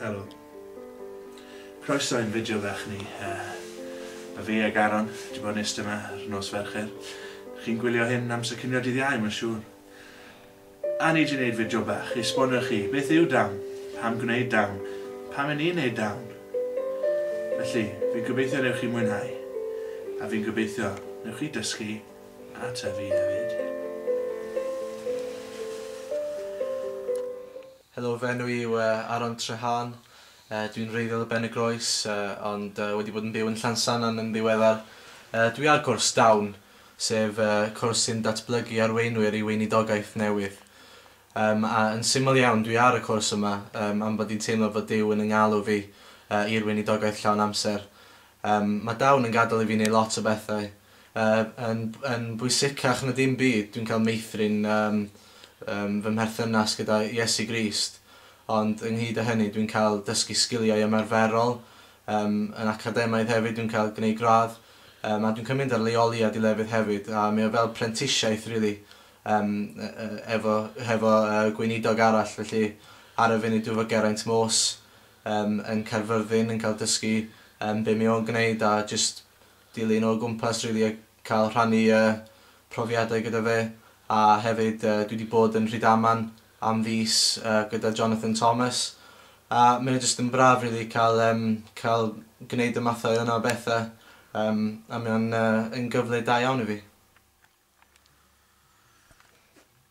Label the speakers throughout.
Speaker 1: Helo. Croeso i'n fideo fach ni. Mae fi ac Aaron 'di bod yn iste 'ma ar nos Fercher. Chi'n gwylio hyn amser cinio dydd Iau mae'n siŵr. A nei di wneud fideo bach i esbonio chi beth yw down, pam gwneud down, pam i ni wneud down. Felly, fi'n gobeithio newch chi mwynhau, a fi'n gobeithio newch chi dysgu a tyfu hefyd.
Speaker 2: Helo, fy enw i yw Aron Treharn, dwi'n wreiddiol o Ben-y-groes ond wedi bod yn byw yn Llansannan yn ddiweddar. Dwi ar gwrs down sef y cwrs sy'n datblygu arweinwyr i weinidogaeth newydd. Yym, a yn syml iawn, dwi ar y cwrs yma yym, am bod i'n teimlo fod Duw yn 'y ngalw fi yy i'r weinidogaeth llawn amser. Yym, mae Dawn yn gadael i fi wneud lot o bethau. Yy, yn yn bwysicach na dim byd, dwi'n cael meithrin yym yym fy mherthynas gyda Iesu Grist, ond ynghyd â hynny dwi'n cael dysgu sgiliau ymarferol Yym, yn academaidd hefyd dwi'n cael gneud gradd yym a dwi'n cael mynd ar leoli a dilefydd hefyd a mae o fel prentisiaeth rili yym yy efo hefo yy gweinidog arall felly ar y funud dwi efo Geraint Morse yym yn Caerfyrddin yn cael dysgu yym be mae o'n gwneud a jyst dilyn o gwmpas rili a cael rhannu yy profiadau gyda fe a hefyd yy dwi 'di bod yn Rhydaman am fis yy gyda Jonathan Thomas a mae o jyst yn braf rili cael yym cael gwneud y mathau yna o bethe yym a mae o'n yy yn gyfle da iawn i fi.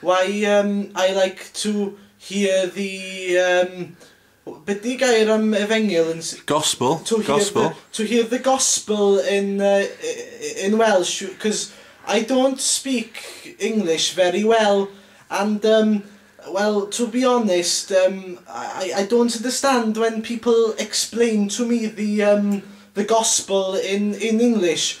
Speaker 2: Why um I like to hear the um be di gair am efengyl yn s- Gospel, to hear
Speaker 1: gospel. the to
Speaker 2: hear the gospel in uh in welsh cos I don't speak English very well and um well to be honest um I I don't understand when people explain to me the um the gospel in in English